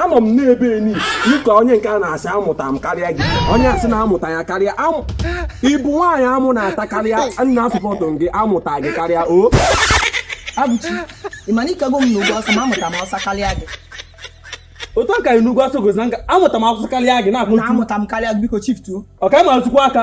anọ m n'ebe eni dịka onye nke a na-asị amụta m karịa gị onye asị na-amụta ya karịa ị bụ nwaanyị amụ na-ata karịa nna asụpọtụ gị amụta gị karịa o abụchi ị ma na ị kago m n'ugwu ọsọ ma amụta m ọsọ karịa gị otu aka n'ugwu ọsọ gozi na nka amụta m ọsọ karịa gị na-akpụ amụta m karịa gị biko shiftuo ọka ma azụkwa aka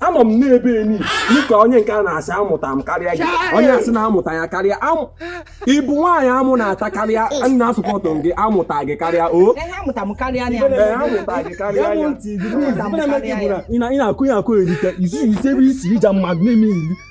anọ m n'ebe eni dịka onye nke a na-asị amụta m karịa gị onye asị na-amụta ya karịa ị bụ nwaanyị amụ na-ata karịa nna asụpọtụ gị amụta gị karịa o ị na-akụ ya akụ erite isi ebe isi ija mmadụ na-eme iri